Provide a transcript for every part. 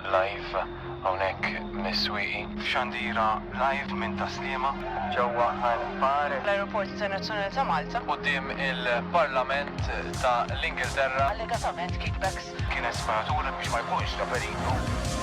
Live hawnhekk mis-Swieqi. F'xandira live minn Tas-Sliema. Ġewwa Ħal Bar. L-Ajruport Internazzjonali ta' Malta. Quddiem il-Parlament ta' l-Ingilterra. Allegatament kickbacks. Kienet sparatura biex ma jkunx ta' periklu.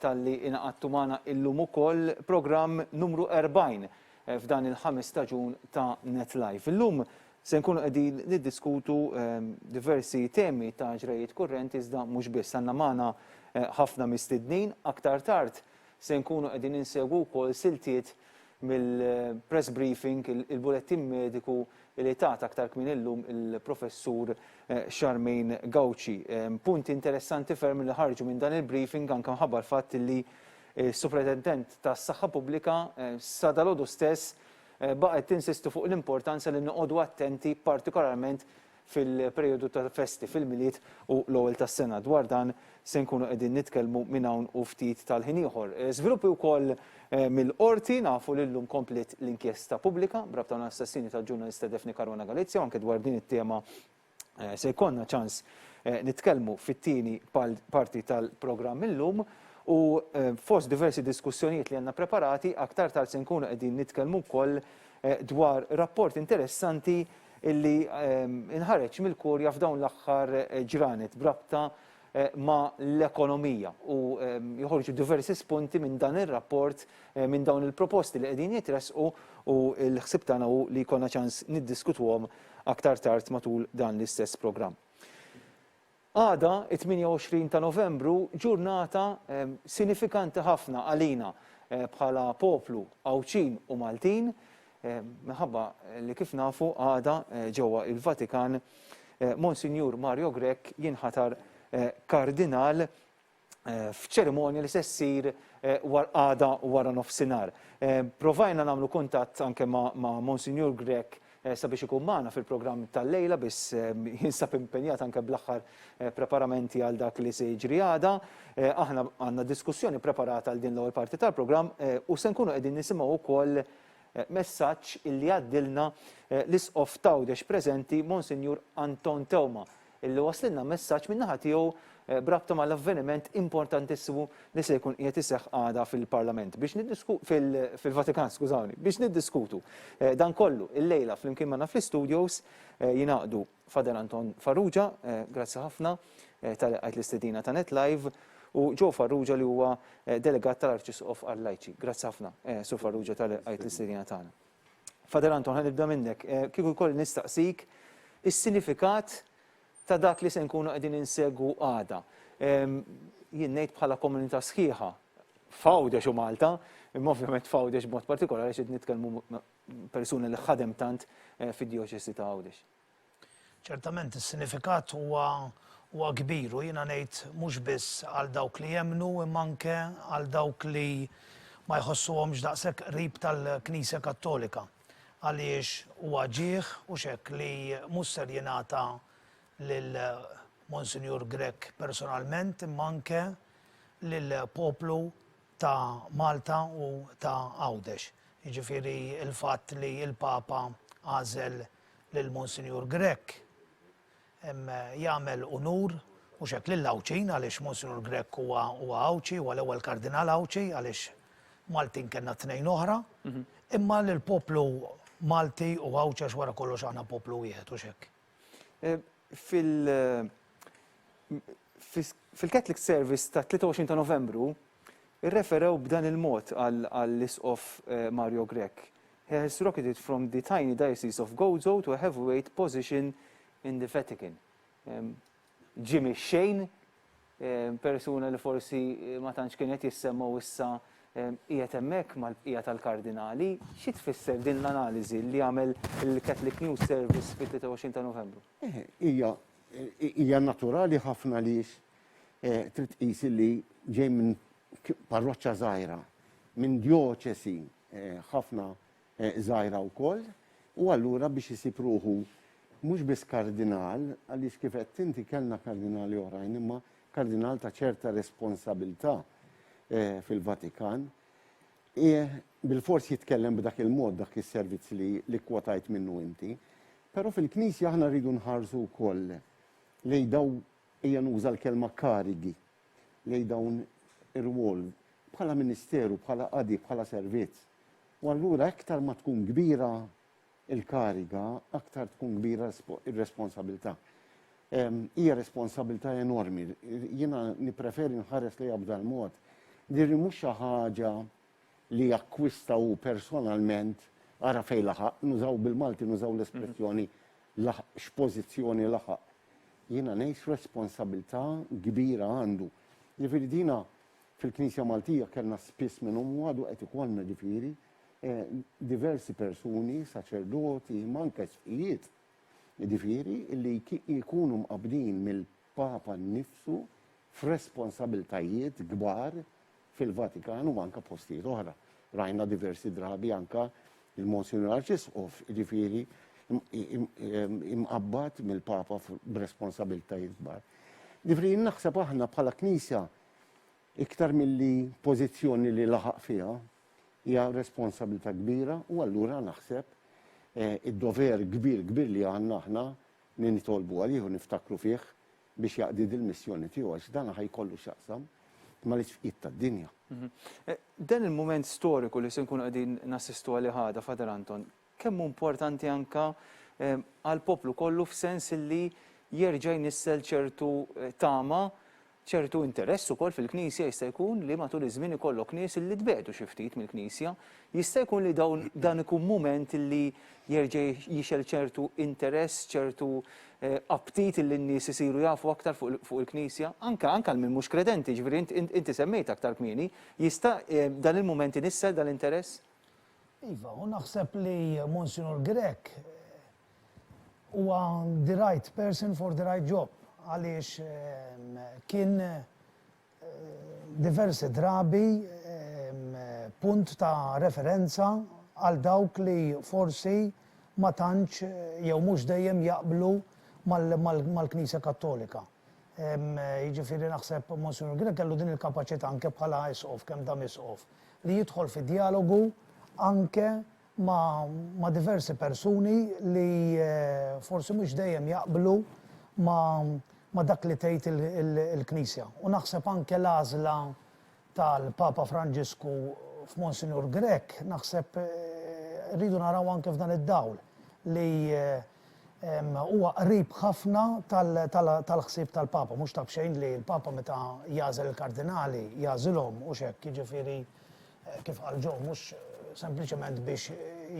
talli ingħaqadtu magħna illum ukoll programm numru 40 f'dan il-ħames staġun ta' Net Live. Illum se nkunu qegħdin niddiskutu ehm, diversi temi ta' ġrejiet kurrenti iżda mhux biss għandna magħna eh, ħafna mistednin aktar tard se nkunu qegħdin insegwu wkoll siltiet mill-press briefing, il-bulettin mediku li tat aktar kmieni llum il-Professur Charmaine Gauci. Punti interessanti ferm li ħarġu minn dan il-briefing anke mħabba l-fatt li s-Supratentent tas-Saħħa Pubblika sa dalgħodu stess baqgħet tinsisti fuq l-importanza li noqogħdu attenti partikolarment fil-perijodu tal-festi, fil-Milied u l-Ewwel tas-Sena. Dwar dan Se nkunu qegħdin nitkellmu minn hawn u ftit tal-ħin ieħor. Żviluppi wkoll mill-Qorti, nafu li llum kompliet l-inkjesta pubblika b'rabta mal-assassinju tal-ġurnalista Daphne Caruana Galizia u anke dwar din it-tema se jkollna ċans nitkellmu fit-tieni parti tal-programm illum u fost diversi diskussjonijiet li għandna preparati aktar tard se nkunu qegħdin nitkellmu wkoll dwar rapport interessanti illi nħareġ mill-Kurja f'dawn l-aħħar ġranet b'rabta ma' l-ekonomija u joħorġu diversi spunti minn dan ir-rapport minn dawn il-proposti li qegħdin jitressqu u l-ħsieb tagħna hu li jkollna ċans niddiskutuhom aktar tard matul dan l-istess programm. Għada, it-28 ta' Novembru, ġurnata sinifikanti ħafna għalina bħala poplu Għawdxin u Maltin, minħabba li kif nafu għada ġewwa il-Vatikan Monsinjur Mario Grech jinħatar Kardinal f'ċerimonja li se ssir għada wara nofsinhar. Provajna nagħmlu kuntatt anke ma' Monsinjur Grech sabiex ikun magħna fil-programm tal-lejla biss jinsab impenjat anke bl-aħħar preparamenti għal dak li se jiġri għada. Aħna għandna diskussjoni preparata għal din l-ewwel parti tal-programm u se nkunu qegħdin nisimgħu wkoll messaġġ illi għaddilna l-Isqof t'Għawdex preżenti Monsinjur Anton Teuma illi waslilna messaġġ min-naħa tiegħu b'rabta mal-avveniment importantissimu li se jkun qiegħed iseħħ għada fil-Parlament biex niddisku fil-Vatikan, skużawni, biex niddiskutu dan kollu illejla flimkien magħna fl-istudios jingħaqdu Fader Anton Farrugia, grazzi ħafna tal qajt l-istedina ta' Net Live, u Joe Farrugia li huwa delegat tal-Arċisqof għal-Lajċi. Grazzi ħafna, Sur Farrugia tal qajt l-istedina tagħna. Father Anton, ħa nibda minnek. Eh, kieku jkolli nistaqsik is-sinifikat ta' dak li se nkunu qegħdin insegwu għada. Ehm, jien ngħid bħala komunità sħiħa f'Għawdex u Malta, imma ovvjament f'Għawdex b'mod partikolari xed nitkellmu persuni li ħadem tant eh, fid-dioċesi ta' Għawdex. Ċertament is-sinifikat huwa huwa kbir u jiena ngħid mhux biss għal dawk li jemmnu imma anke għal dawk li ma jħossuhomx daqshekk qrib tal-Knisja Kattolika għaliex huwa ġieħ u x'hekk li mhux ser jingħata lil Monsinjur Grech personalment imma anke lill-poplu ta' Malta u ta' Għawdex, jiġifieri l-fatt li l-Papa għażel lil Monsinjur Grech jagħmel unur mhux hekk lill-Għawdxin għaliex Monsinjur Grech huwa Għawdxi, huwa l-ewwel Kardinal Għawdxi għaliex Maltin kellna tnejn oħra, imma lill-poplu Malti u Għawdxi għax wara kollox aħna poplu wieħed hux hekk? Fil-Catholic Service tat-23 ta' Novembru, irreferew b'dan il-mod għall-Isqof Mario Grech, He has rocketed from the tiny diocese of Gozo to a heavyweight position in the Vatican. Jimmy Shane, persuna li forsi ma tantx kien qed jissemma u issa qiegħed hemmhekk mal-bqija tal-Kardinali. Xi tfisser din l-analiżi li għamel il-Catholic News Service fit-23 ta' Novembru? Hija hija naturali ħafna għaliex trid tqis li ġej minn parroċċa żgħira, minn djoċesi ħafna żgħira wkoll, u allura biex isib ruħu mhux biss kardinal, għaliex kif għedt inti kellna kardinali oħrajn, imma kardinal ta' ċerta responsabilità fil-Vatikan, qiegħ bilfors jitkellem b'dak il-mod dak is-servizz li li kkwotajt minnu inti. Però fil-Knisja aħna rridu nħarsu wkoll lejn dawn Ejja nuża l-kelma karigi lejn dawn ir-rwol, bħala ministeru, bħala qadi, bħala servizz. U allura iktar ma tkun kbira l-kariga, aktar tkun kbira r-responsabilità. Hija responsabilità enormi. Jiena nippreferi nħares lejha b'dan mod. Dirli mhux xi ħaġa li akkwista hu personalment, ara fejn laħaq, nużaw bil-Malti nużaw l-espressjoni laħaq, x'pożizzjoni laħaq. Jiena ngħid x'responsabilità kbira għandu. Jiġifieri dina fil-Knisja Maltija kellna spiss minnhom u għadu qed ikollna ġifieri diversi persuni, saċerdoti, imma anke sħijiet, jiġifieri li jkunu mqabbdin mill-Papa nnifsu f'responsabilitajiet kbar fil-Vatikan u anke postijiet oħra. Rajna diversi drabi anke il-Monsinjur Arċisqof, ġifieri imqabbad mill-Papa b'responsabiltajiet kbar. Ġifieri naħseb aħna bħala Knisja iktar milli pożizzjoni li laħaq fiha hija responsabilità kbira u allura naħseb id-dover kbir kbir li għandna aħna li nitolbu għalih u niftakru fih biex jaqdi dil-missjoni tiegħu għax dan ħa jkollu x'jaqsam mal-isfqiet tad-dinja. Dan il-mument storiku li se nkunu qegħdin nassistu għalih għada, Father Anton, kemm hu importanti anke għall-poplu kollu f'sens illi jerġa' jnissel ċertu tama, ċertu interess ukoll fil-Knisja jista' jkun li matul iż-żmien ikollok nies illi tbegħdu xi ftit mill-Knisja, Jista' jkun li dawn dan ikun mument li jerġa' jixgħel ċertu interess, ċertu aptit li n-nies isiru jafu aktar fuq il-Knisja, anke anke għal min mhux kredenti, jiġifieri int int inti semmejt aktar kmieni, jista' dan il-mument inissel dan l-interess? Iva, u naħseb li Monsinur Grech huwa the right person for the right job għaliex kien diversi drabi punt ta' referenza għal dawk li forsi ma tantx jew mhux dejjem jaqblu mal-Knisja Kattolika. Jiġifieri naħseb Monsinjur Grech kellu din il-kapaċità anke bħala Isqof, kemm dam Isqof, li jidħol fi djalogu anke ma' diversi persuni li forsi mhux dejjem jaqblu ma' dak li tgħid il-Knisja. U naħseb anke l-għażla tal-Papa Franġisku f'Monsinjur Grech naħseb rridu naraw anke f'dan id-dawl li huwa qrib ħafna tal-ħsieb tal-Papa. Mhux ta' b'xejn li l-Papa meta jagħżel il-Kardinali jagħżilhom, hux hekk, jiġifieri kif qal Joe, mhux sempliċement biex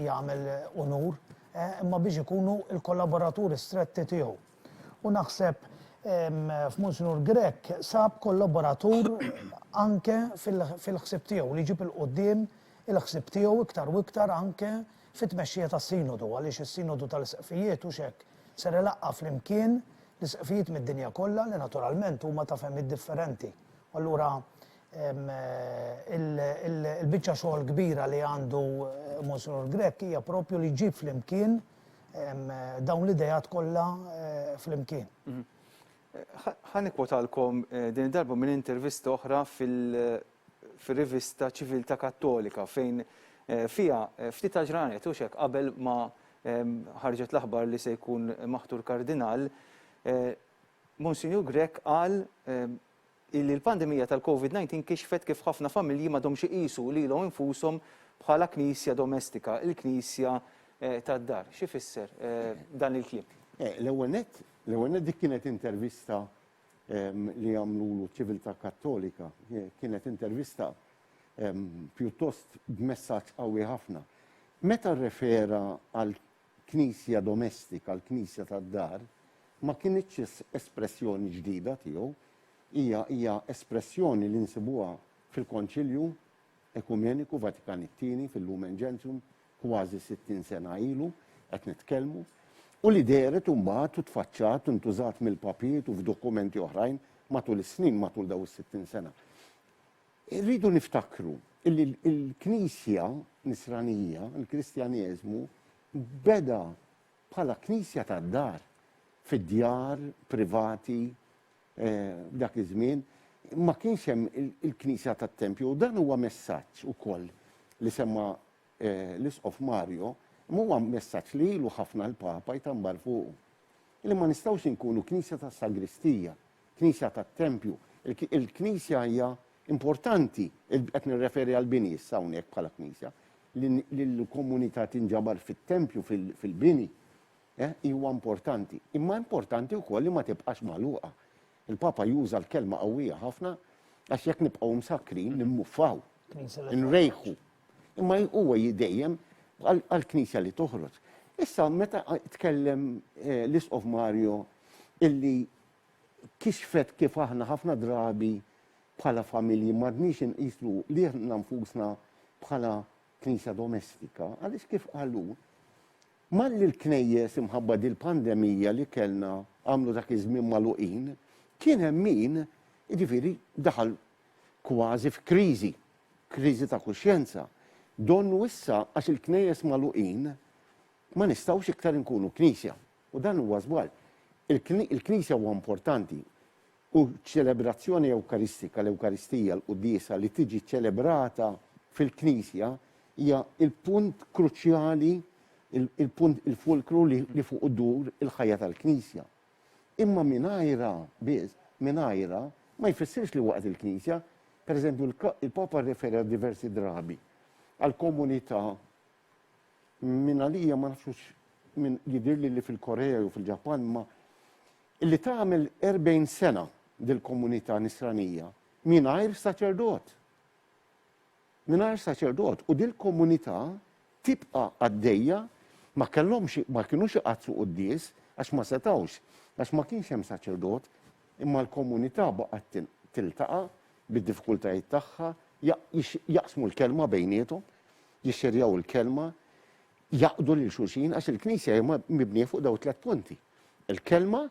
jagħmel unur, imma biex ikunu l-kollaboraturi stretti tiegħu. U naħseb f'Monsinur Grech sab kollaboratur anke fil-ħsib tiegħu li ġib il-qudiem il-ħsib tiegħu iktar u iktar anke fit-tmexxija tas-Sinodu għaliex is-Sinodu tal-Isqfijiet u xek ser ilaqqa' flimkien l-Isqfijiet mid-dinja kollha li naturalment huma ta' fehmiet differenti. Allura Il-biċċa xogħol kbira li għandu Monsinjur Grech hija proprju li jġib flimkien dawn l-ideat kollha flimkien. Ħa nikkwotalkom din id-darba minn intervista oħra fir-rivista Ċiviltà Kattolika fejn fiha ftit għall-ġranet, hux hekk, qabel ma ħarġet l-aħbar li se jkun maħtur Kardinal, Monsinjur Grech qal illi l-pandemija tal-Covid 19 kixfet kif ħafna familji m'għadhomx iqisu lilhom infushom bħala knisja domestika, il-knisja tad-dar. Xi jfisser dan il-kliem? L-ewwel nett, l-ewwel nett dik kienet intervista li għamlulu Civiltà Kattolika. Kienet intervista pjuttost b'messaġġ qawwi ħafna. Meta rrefera għal Knisja domestika, l-knisja tad-dar, ma kinitx espressjoni ġdida tiegħu. Hija hija espressjoni li nsibuha fil-Konċilju Ekumeniku Vatikan it-Tieni, fil-Lumen Gentium, kważi sittin sena ilu qed nitkellmu, u li dehret imbagħad u tfaċċat u ntużat mill-papiet u f'dokumenti oħrajn matul is-snin, matul dawn is-sittin sena. Irridu niftakru li l-Knisja Nisranija, il-Kristjaneżmu, beda bħala knisja tad-dar, fid-djar privati f'dak iż-żmien. Ma kienx hemm il-knisja tat-tempju u dan huwa messaġġ ukoll li semma l-Isqof Mario, imma huwa messaġġ li ilu ħafna l-Papa jtambar fuqu, li ma nistgħux inkunu knisja tas-sagristija. Knisja tat-tempju. Il-knisja hija importanti, qed nirreferi għall-bini issa hawnhekk bħala knisja, li l-komunità tinġabar fit-tempju, fil-bini, huwa importanti. Imma importanti wkoll li ma tibqax magħluqa. Il-Papa juża l-kelma qawwija ħafna għax jekk nibqgħu msakkrin, nimmuffaw, inrejħu. Imma huwa dejjem għall-knisja li toħroġ. Issa meta tkellem l-Isqof Mario illi kixfet kif aħna ħafna drabi bħala familji m'għadniex inqisu lilna nfusna bħala Knisja domestika, għaliex kif qal hu, malli l-knejjes imħabba dil-pandemija li kellna għamlu dak iż-żmien magħluqin, kien hemm min, jiġifieri, daħal kważi f'kriżi, kriżi ta' kuxjenza. Donnu issa għax il-knejjes magħluqin ma nistgħux iktar inkunu Knisja. U dan huwa żball. Il-Knisja huwa importanti u ċ-ċelebrazzjoni ewkaristika, l-Ewkaristija, l-quddiesa li tiġi ċċelebrata fil-Knisja hija l-punt kruċjali, il-punt, il-fulkru li fuqu ddur il-ħajja tal-Knisja. Imma mingħajrha biss, mingħajrha, ma jfissirx li waqgħet il-Knisja. Pereżempju, il-Papa rrefera diversi drabi għall-komunità Minn għalija ma nafx hux minn jidhirli li fil-Korea jew fil-Ġappan imma li tagħmel 40 sena dil-komunità Nisranija mingħajr saċerdot. Mingħajr saċerdot u dil-komunità tibqa' għaddejja ma kellhomx ma kinux iqaddsu quddies għax ma setgħux għax ma kienx hemm saċerdot imma l-komunità baqgħet tiltaqa' bid-diffikultajiet tagħha jaqsmu l-kelma bejniethom jixxerjaw il-Kelma, jgħaqqdu lil xulxin, għax il-Knisja hija mibnija fuq dawn it-tliet punti, il-Kelma,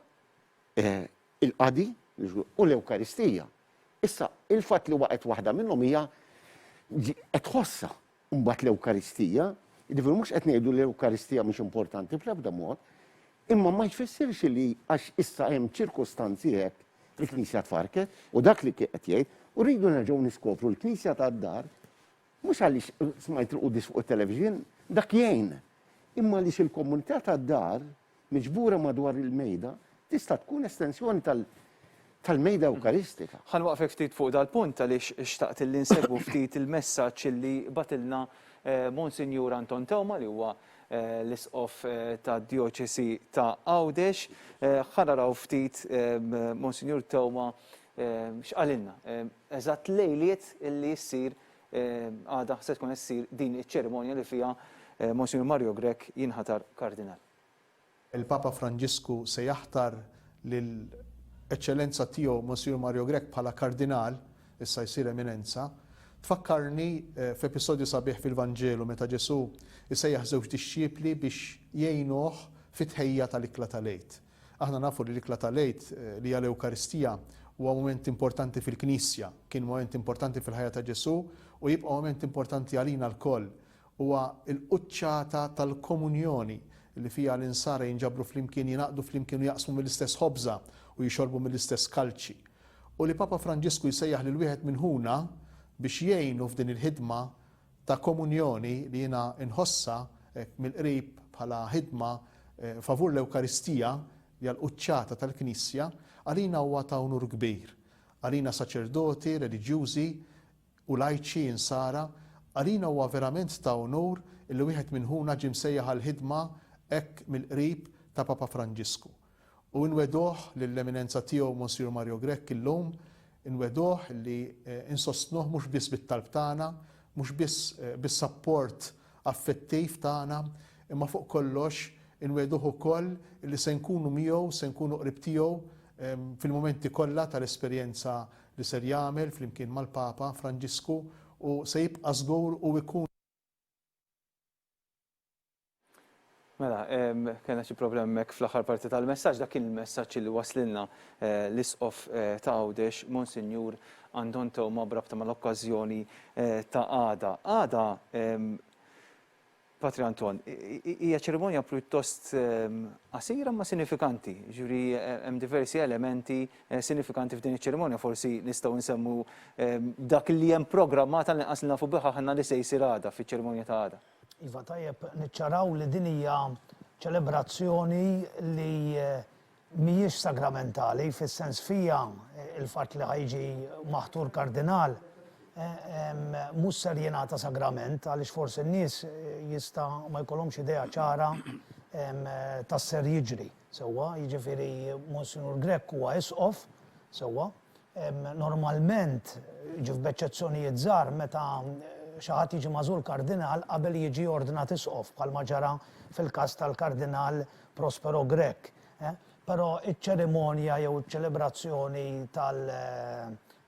il-Qadi, u l-Ewkaristija. Issa, il-fatt li waqgħet waħda minnhom hija qed tħossha. Imbagħad l-Ewkaristija, jiġifieri mhux qed ngħidu li l-Ewkaristija mhix importanti bl-ebda mod, imma ma jfissirx li għax issa hemm ċirkustanzi hekk, il-Knisja tfarrket, u dak li qed jgħid, u rridu nerġgħu niskopru l-Knisja tad-dar, Mhux għaliex smajt il-quddies fuq it-televixin, dak jgħin, imma għaliex il-komunità tad-dar, miġbura madwar il-Mejda, tista' tkun estensjoni tal-Mejda Ewkaristika. Ħa nwaqqfek ftit fuq dal-punt għaliex xtaqt illi nsegwu ftit il-messaġġ illi bagħtilna Monsinjur Anton Teuma li huwa l-Isqof tad-Djoċesi ta' Għawdex. Ħa naraw ftit Monsinjur Teuma X'qalilna eżatt lejliet li ssir għada se tkun qed issir din iċ-ċerimonja li fiha Monsinjur Mario Grech jinħatar Kardinal. Il-Papa Franġisku se jaħtar lil Eċċellenza Tiegħu Monsinjur Mario Grech bħala Kardinal, issa jsir Eminenza. Tfakkarni f'episodju sabiħ fil-Vanġelu meta Ġesù jsejjaħ żewġ dixxipli biex jgħinuh fit-tħejjija tal-ikla tal-Għid. Aħna nafu li l-ikla tal-Għid, li hija l-Ewkaristija, huwa mument importanti fil-Knisja, kien mument importanti fil-ħajja ta' Ġesù u jibqa' mument importanti għalina lkoll. Huwa l-quċċata tal-komunjoni, li fiha l-insara jinġabru flimkien, jingħaqdu flimkien u jaqsmu mill-istess ħobża u jixorbu mill-istess kalċi. U li Papa Franġisku jsejjaħ lil wieħed minn ħuna biex jgħinu f'din il-ħidma ta' komunjoni li jiena nħossha hekk mill-qrib bħala ħidma favur l-Ewkaristija li hija l-quċċata tal-Knisja, għalina huwa ta' unur kbir. Għalina saċerdoti, reliġjużi u lajċi, insara, għalina huwa verament ta' unur illi wieħed minn ħuna ġie msejjaħ għall-ħidma hekk mill-qrib ta' Papa Franġisku. U inwegħduh lill-Eminenza Tiegħu Monsiur Mario Grech illum, inwegħduh li insostnuh mhux biss bit-talb tagħna, mhux biss bis-sapport affettiv tagħna, imma fuq kollox inwegħduh ukoll li se nkunu miegħu, se nkunu qrib tiegħu fil-mumenti kollha tal-esperjenza li ser jagħmel flimkien mal-Papa Franġisku u se jibqa' żgur u jkun. Mela, kena xi problem hemmhekk fl-aħħar parti tal-messaġġ, dak kien il-messaġġ li waslilna eh, l-isqof eh, ta' Għawdex, Monsinjur Anton Tewma brabta mal-okkażjoni eh, ta' għada. Għada, Patri Anton, hija ċerimonja pjuttost qasira ma sinifikanti, ġuri hemm diversi elementi sinifikanti f'din iċ-ċerimonja forsi nistgħu nsemmu dak li hemm programmat għall-inqas li nafu bih aħna li se jsir għada fiċ-ċerimonja ta' għada. Iva tajjeb niċċaraw li din hija ċelebrazzjoni li mhijiex sagramentali fis-sens fiha l-fatt li ħa jiġi maħtur kardinal mhux ser jingħata sagrament għaliex forsi n-nies jista' ma jkollhomx idea ċara ta' x'ser jiġri. Sewwa, jiġifieri Monsinjur Grech huwa Isqof, sewwa. Normalment, jiġifieri b'eċċezzjonijiet żgħar, meta xi ħadd jiġi magħżul Kardinal qabel jiġi ordnat Isqof, bħalma ġara fil-każ tal-Kardinal Prospero Grech. Però iċ-ċerimonja jew iċ-ċelebrazzjoni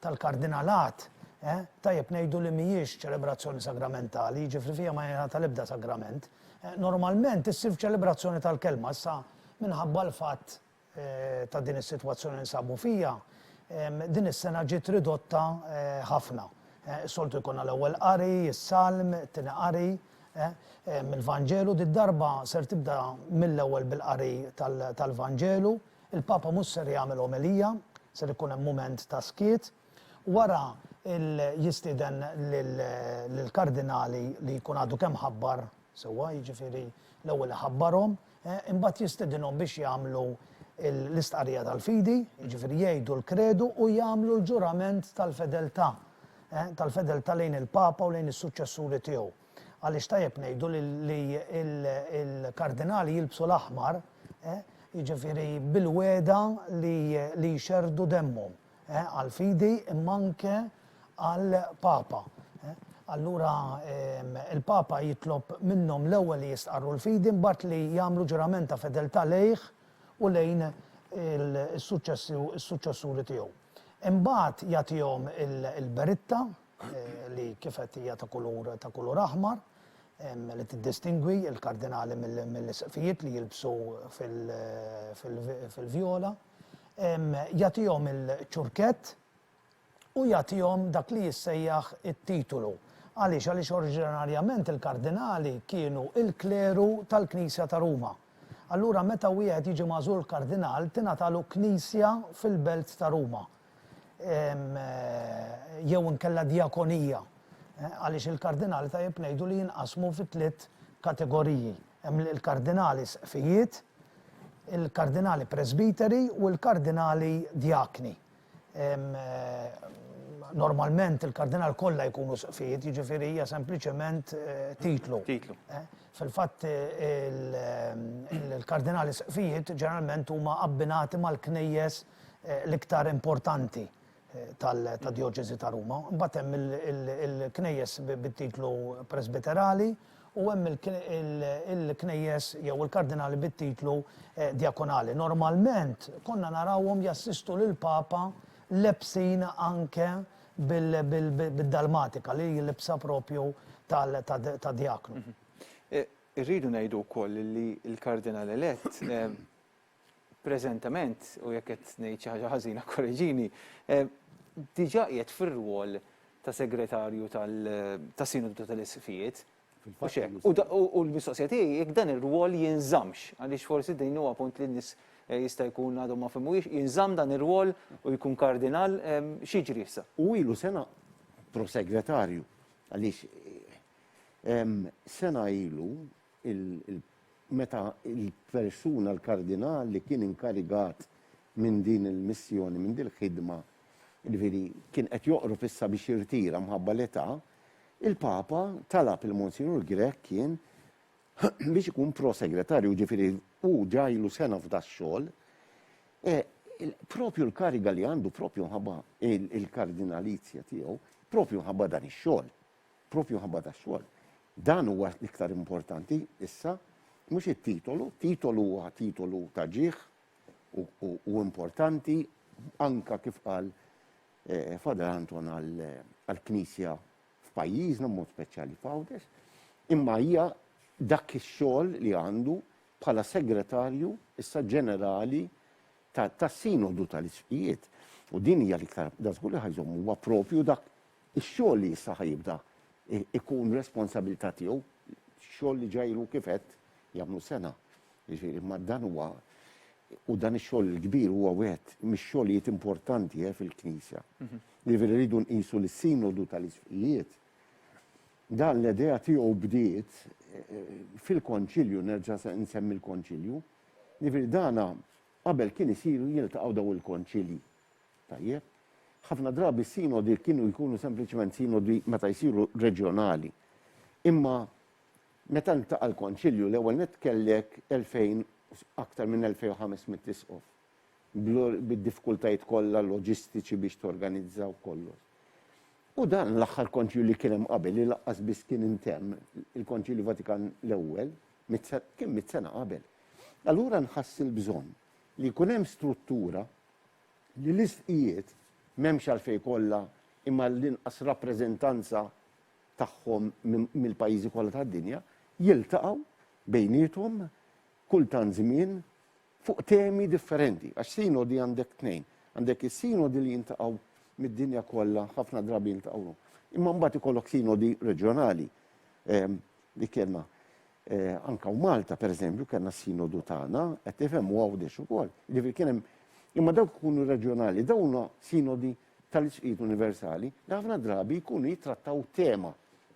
tal-Kardinalat, tajjeb ngħidu li mhijiex ċelebrazzjoni sagramentali, jiġifieri fiha ma jingħata l-ebda sagrament. Normalment issir f'ċelebrazzjoni tal-Kelma. Issa, minħabba l-fatt ta' din is-sitwazzjoni li ninsabu fiha, din is-sena ġiet ridotta ħafna. Soltu jkollna l-Ewwel Qari, is-Salm, it-Tieni Qari mill-Vanġelu. Did-darba ser tibda mill-ewwel bil-qari tal-Vanġelu. Il-Papa mhux ser jagħmel omelija, ser ikun hemm mument ta' skiet. Wara jistieden lill-Kardinali li jkun għadu kemm ħabbar sewwa, jiġifieri l-ewwel iħabbarhom, imbagħad jistedinhom biex jagħmlu l-istqarrija tal-fidi, jiġifieri jgħidu l-kredu u jagħmlu l-ġurament tal-fedeltà, tal-fedeltà lejn il-Papa u lejn is-suċċessuri tiegħu. Għaliex tajjeb ngħidu li l-Kardinali jilbsu l-aħmar, jiġifieri bil-wegħda li jxerrdu demmhom. għall-fidi imma anke għall-Papa. Allura il-Papa jitlob minnhom l-ewwel li jistqarru l-fidi mbagħad li jagħmlu ġurament ta' fedeltà lejh u lejn is-suċċessuri tiegħu. Imbagħad jagħtihom il-beritta li kif għedt hija ta' kulur ta' kulur aħmar li tiddistingwi l-kardinali mill-isqfijiet li jilbsu fil-vjola. jagħtihom il-ċurkett u jagħtihom dak li jissejjaħ it-titulu. Għaliex? Għaliex oriġinarjament il-kardinali kienu il-kleru tal-Knisja ta' Ruma. Allura meta wieħed jiġi magħżul kardinal tingħatalu knisja fil-belt ta' Ruma. Jew inkella djakonija. Għaliex il-kardinali tajjeb ngħidu li jinqasmu fi tliet kategoriji. Hemm il-kardinali sqfijiet, il-Kardinali Presbiteri u l-Kardinali Djakni. Normalment il-Kardinali kollha jkunu sqfijiet, jiġifieri hija sempliċement titlu. Titlu. Fil-fatt il-Kardinali sqfijiet ġeneralment huma abbinati mal-Knejjes l-iktar importanti. tad-Djoċesi ta' Ruma. Imbagħad hemm il-knejjes bit-titlu presbiterali u hemm il-knejjes jew il-kardinali bit-titlu djakonali. Normalment konna narawhom jassistu lill-Papa lebsin anke bid-dalmatika li jilibsha proprju ta' djaknu. Irridu ngħidu wkoll li l-Kardinal elett preżentament, u jekk qed ngħid xi ħaġa ħażina kkoreġini, diġà qiegħed fir-rwol ta' Segretarju tas-Sinodu tal-Isqfijiet, mhux hekk? U l-mistoqsija tiegħi jekk dan ir-rwol jinżammx, għaliex forsi din huwa punt li n-nies jista' jkun għadhom ma fehmuhiex, jinżamm dan ir-rwol u jkun Kardinal? X'jiġri issa? U ilu sena, Prosegretarju, għaliex sena ilu, il, meta l-persuna, l-kardinal li kien inkarigat minn din il-missjoni, minn din il-ħidma, jiġifieri kien qed joqrob issa biex jirtira mħabba l-età, il-Papa talab lil Monsinjur Grech kien biex ikun Pro Segretarju, jiġifieri hu ġa ilu sena f'dax-xogħol, e, propju l-kariga li għandu propju mħabba il-kardinalizja tiegħu, propju mħabba dan ix-xogħol. Proprju minħabba dax-xogħol. Dan huwa l-iktar importanti issa, mhux it-titolu. Titolu huwa titolu ta' ġieħ u importanti anke kif qal Father Anton għall-Knisja f'pajjiżna b'mod speċjali f'Għawdex, imma hija dak ix-xogħol li għandu bħala Segretarju issa Ġenerali tas-Sinodu tal-Isqfijiet. U din hija l-iktar, dan żgur li ħa jżomm, huwa proprju dak Ix-xogħol li issa ħa jibda jkun responsabilità tiegħu, xogħol li ġa ilu kif għedt jagħmlu sena. Jiġifieri imma dan huwa u dan ix-xogħol il-kbir huwa wieħed mix-xogħlijiet importanti fil-Knisja. Jiġifieri rridu nqisu li s-Sinodu tal-Isqfijiet dan l-idea tiegħu bdiet fil-Konċilju, nerġa' nsemmi l-Konċilju, jiġifieri dana qabel kien isir jiltaqgħu dawn il-Konċilji. Tajjeb. Ħafna drabi s-sinodi kienu jkunu sempliċement sinodi meta jsiru reġjonali. Imma meta ltaqa' l-Konċilju, l-ewwel nett kellek 2,000, aktar minn 2,500 isqof, bid-diffikultajiet kollha loġistiċi biex torganizza u kollox. U dan l-aħħar Konċilju li kien hemm qabel, li lanqas biss kien intemm, il-Konċilju Vatikan l-Ewwel, kien mitt sena qabel. Allura nħass il-bżonn li jkun hemm struttura li l-isqfijiet m'hemmx għalfejn jkollha imma l-inqas rappreżentanza tagħhom mill-pajjiżi kollha tad-dinja, jiltaqgħu bejniethom kull tant żmien fuq temi differenti. Għax sinodi għandek tnejn, għandek is-sinodi li jintaqgħu mid-dinja kollha, ħafna drabi jiltaqgħu, imma mbagħad ikollok sinodi reġjonali li kellna. Anke hawn Malta, pereżempju, kellna s-Sinodu tagħna, qed tifhem, u Għawdex ukoll. Jiġifieri kien hemm imma dawk ikunu reġjonali, dawn huma sinodi tal-isqfijiet universali li ħafna drabi jkunu jittrattaw tema,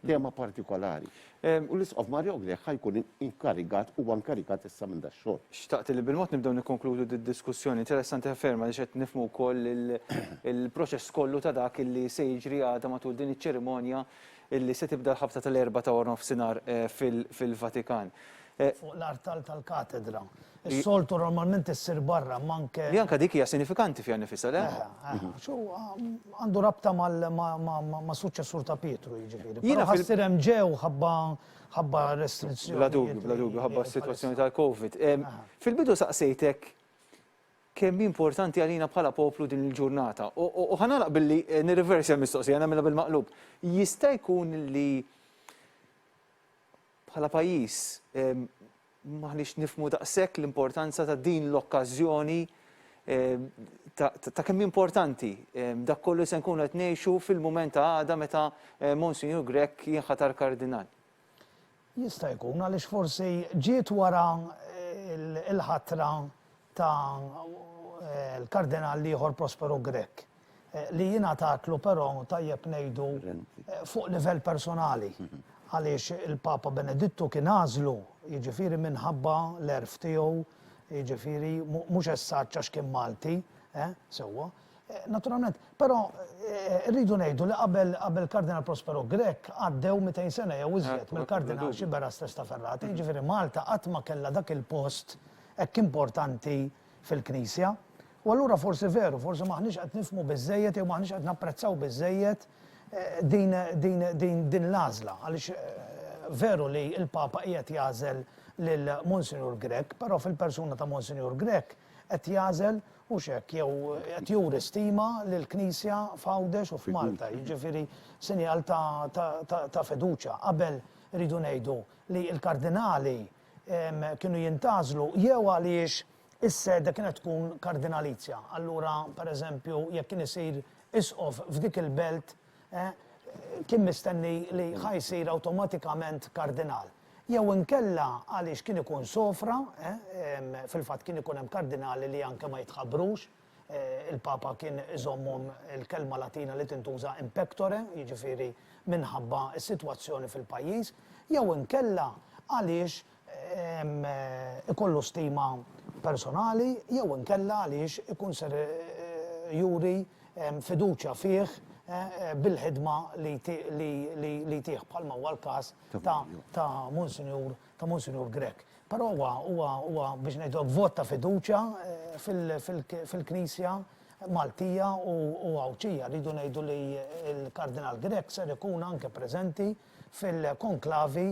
tema partikolari. U l-Isqof Mario Grech ħa jkun inkarigat, huwa inkarigat issa minn dax-xogħol. Xtaqt li bil-mod nibdew nikkonkludu d-diskussjoni. Interessanti ħafna ferm għaliex qed nifhmu wkoll il-proċess kollu ta' dak li se jiġri għada matul din iċ-ċerimonja illi se tibda l-ħabta tal-Erbgħa ta' Waranofsinhar fil-Vatikan. Fuq l-artal tal-katedra. Is-soltu normalment issir barra, imma anke. Li anke dik hija sinifikanti fiha nnifisha, le? Eħe, eħe. Għax hu għandu rabta mas-suċċessur ta' Pietru, jiġifieri. Jiena ħassir hemm ġew ħabba ħabba restrizzjonijiet. Bla dubju, bla dubju, ħabba s-sitwazzjoni tal-Covid. Fil-bidu saqsejtek Kemm hi importanti għalina bħala poplu din il-ġurnata. U ħa nagħlaq billi nirriversja l-mistoqsija, nagħmilha bil-maqlub. Jista' jkun li bħala pajjiż m'aħniex nifhmu daqshekk l-importanza ta' din l-okkażjoni ta' kemm hi importanti dak kollu li se nkunu qed ngħixu fil-mument ta' għada meta Monsinjur Grech jinħatar Kardinal? Jista' jkun għaliex forsi ġiet wara l-ħatra ta' l-Kardinal l-ieħor Prospero Grech, li ingħatatlu però tajjeb ngħidu fuq livell personali, għaliex il-Papa Benedittu kien għażlu, jiġifieri minħabba l-għerf tiegħu, jiġifieri mhux essaġġ għax kien Malti, eh, sewwa. Naturalment, però rridu ngħidu li qabel qabel Kardinal Prospero Grech għaddew 200 sena jew iżjed mill-Kardinal Sciberras Testa Ferrata, jiġifieri Malta qatt ma kellha dak il-post hekk importanti fil-Knisja. U allura forsi veru, forsi m'aħniex qed nifhmu biżżejjed jew m'aħniex qed napprezzaw biżżejjed din din din din l-għażla għaliex veru li l-Papa qiegħed jagħżel lil Monsinjur Grech, però fil-persuna ta' Monsinjur Grech, qed jagħżel hux hekk jew qed juri stima lill-Knisja f'Għawdex u f'Malta, jiġifieri sinjal ta' ta' ta' ta' fiduċja. Qabel irridu ngħidu li l-Kardinali kienu jintgħażlu jew għaliex is-sede kienet tkun Kardinalizja, allura pereżempju jekk kien isir Isqof f'dik il-belt kien mistenni li ħa jsir awtomatikament kardinal, jew inkella għaliex kien ikun sofra, fil-fatt kien ikun hemm kardinali li anke ma jitħabbrux, il-Papa kien iżommhom il-kelma Latina li tintuża in pectore, jiġifieri minħabba s-sitwazzjoni fil-pajjiż, jew inkella għaliex ikollu stima personali jew inkella għaliex ikun ser juri fiduċja fih bil-ħidma li jtih bħalma huwa l-każ ta' Monsinjur Grech. Però huwa huwa biex ngħidu hekk vot ta' fiduċja fil-Knisja Maltija u Għawdxija. Rridu ngħidu li l-Kardinal Grech ser ikun anke preżenti fil-konklavi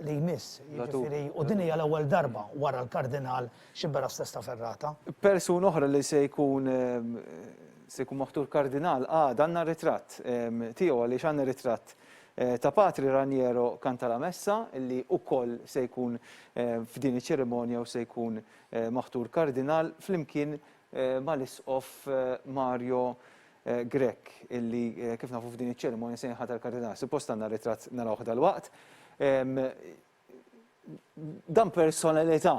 li jmiss, jiġifieri, u din hija l-ewwel darba wara l-Kardinal Sciberras Testa Ferrata. Persuna oħra li se jkun se jkun moħtur Kardinal għada għandna ritratt tiegħu għaliex għandna ritratt ta' Patri Raniero Cantalamessa li wkoll se jkun f'din iċ-ċerimonja u se jkun maħtur Kardinal flimkien mal-Isqof Mario Grech illi kif nafu f'din iċ-ċerimonja se jinħatar kardinal. Suppost għandna ritratt narawh dalwaqt. Dan personalità.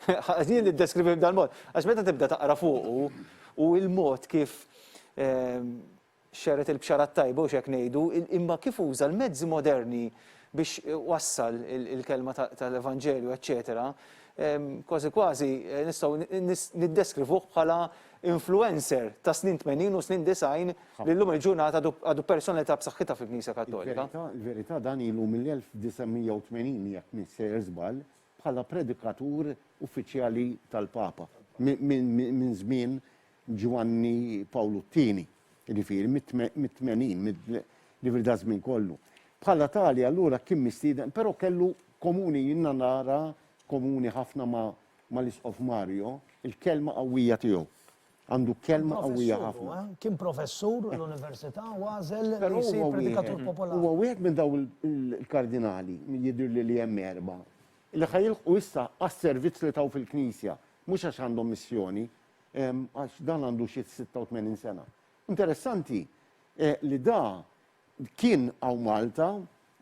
Ħażin li ddeskrivih b'dan mod. Għax meta tibda taqra fuqu u l-mod kif Xerred il-bxara t-tajba, hux hekk ngħidu, imma kif uża l-mezzi moderni biex wassal il-kelma tal-Evanġelju, eċċetera, kważi kważi nistgħu niddeskrivuh bħala influencer ta' snin tmenin u snin disgħin li llum il-ġurnata għadu personalità b'saħħitha fil-Knisja Kattolika. Il-verità dan ilu mill-1980 jekk m'iniex sejjer żball bħala predikatur uffiċjali tal-Papa. Minn żmien Ġwanni Pawlu t-Tieni, jiġifieri mit-tmenin, jiġifieri daż-żmien kollu. Bħala tali allura kien mistieden, però kellu komuni, jiena nara komuni ħafna mal-Isqof Mario, il-kelma qawwija tiegħu. Għandu kelma qawwija ħafna. Kien professur l-università u għażel li jsir predikatur popolari. Huwa wieħed minn dawn il-kardinali, jidhirli li hemm erbgħa, li ħa jilħqu issa għas-servizz li taw fil-Knisja, mhux għax għandhom missjoni, għax dan għandu xi 86 sena. Interessanti li da kien hawn Malta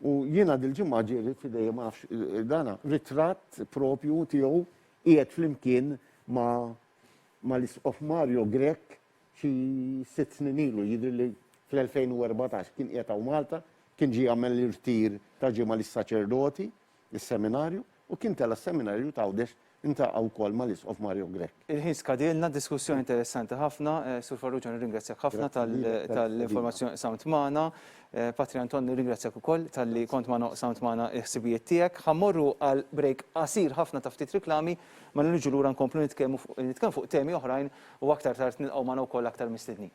u jiena dil-ġimgħa ġieli f'idejja ma nafx dana ritratt propju tiegħu qiegħed flimkien ma' l-Isqof Mario Grech xi sitt snin ilu, jidhirli fl-2014 kien qiegħed hawn Malta, kien ġie jagħmel l-irtir ta' ġimgħa lis-saċerdoti is-seminarju u kien tela' s-seminarju t'Għawdex intaqa' wkoll mal-Isqof Mario Grech. Il-ħin skadielna, diskussjoni interessanti ħafna. Sur Farrugia nirringrazzjak ħafna tal-informazzjoni qsamt magħna. Patri Anton nirringrazzjak ukoll talli kont magħna u qsamt magħna l-ħsibijiet tiegħek. Ħa mmorru għal break qasir ħafna ta' ftit riklami, mela niġu lura nkomplu nitkellmu fuq temi oħrajn u aktar tard nilqgħu magħna wkoll aktar mistednin.